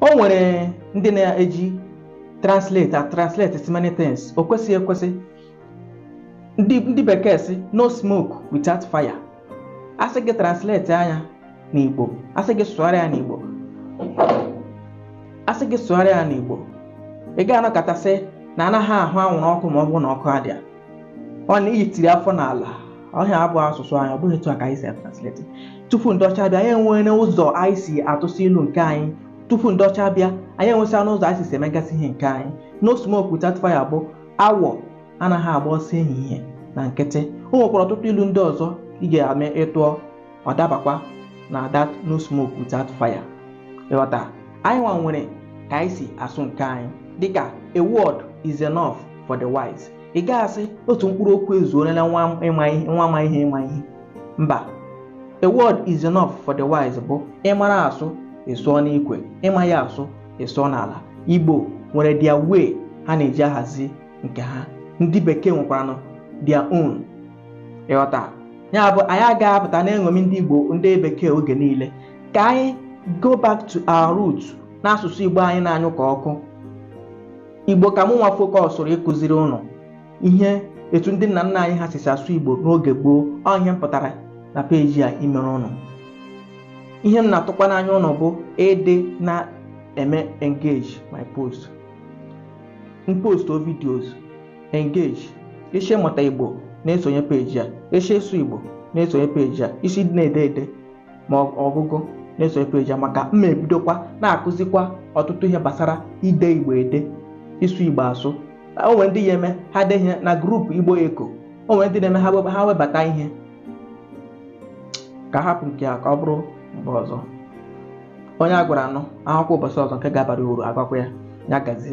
o nwere ndị na-eji translate and translate so many things o kwesịghị ekwesị ndị ndị bekee sị no smoke without fire a sị gị translatịa ya n'igbo a sị gị sụgharịa ya n'igbo a sị gị sụgharịa ya n'igbo ị ga-anọkata sị na anaghị ahụ anwụrụ ọkụ ma ọ bụrụ na ọkụ adịa ọ na i yitiri afọ n'ala ihe a abụ asụsụ anyị ọ bụghị etu a ka anyị si atransleti tupu ndị ọcha bịa anyị enwere ụzọ anyị si atụsị ilu nke anyị tupu ndị ọcha bịa anyị enwesịana ụzọ anyị si si emegasị ihe nke anyị no smoke without fire bụ awọ anaghị agba ọsọ ehihie na nkịtị o nwekwara ọtụtụ ilu ndị ọzọ ị ga-eme ị tụọ ọ dabakwa na that no smoke without fire ị ghọta anyị nwa nwere ka anyị si asụ nke anyị dịka a word is enough for the wise ị ga-asị otu mkpụrụ okwu ezuolela nwa ma ihe ịma ihe mba a word is enough for the wise bụ ị mara asụ ị sụọ n'ikwe ị maghị asụ ị sụọ n'ala igbo nwere their way ha na-eji ahazi nke ha ndị bekee nwekwaranụ their own ị ghọta ya bụ anyị agaghị apụta na-eṅomi ndị Igbo ndị bekee oge niile ka anyị go back to our root na asụsụ Igbo anyị na-anyụ ka ọkụ Igbo ka mụ nwa fokọsụrụ ịkụziri ụnụ ihe etu ndị nna nna anyị ha sisi asụ Igbo n'oge gboo ọ ihe m pụtara na peji a imere ụnụ ihe m na-atụkwa n'anya ụnụ bụ ịdị na-eme engage my post m postụọ videos Engage Ị sị ịmụta Igbo na-esonye peji a Ị sị ịsụ Igbo na-esonye peji a Ị sị ịdị na-ede ede ma ọ- ọgụgụ na-esonye peji a maka m ma-ebidokwa na-akụzikwa ọtụtụ ihe gbasara ide Igbo ede ịsụ Igbo asụ o nwere ndị ya-eme ha dee ihe na grupu Igbo Eko o nwere ndị na-eme ha weba- ha webata ihe ka a hapụ nke a ka ọ bụrụ mgbe ọzọ onye a gwara anụ a hụkwa ụbọchị ọzọ nke ga-abara uru a gwakwa ya ya gazie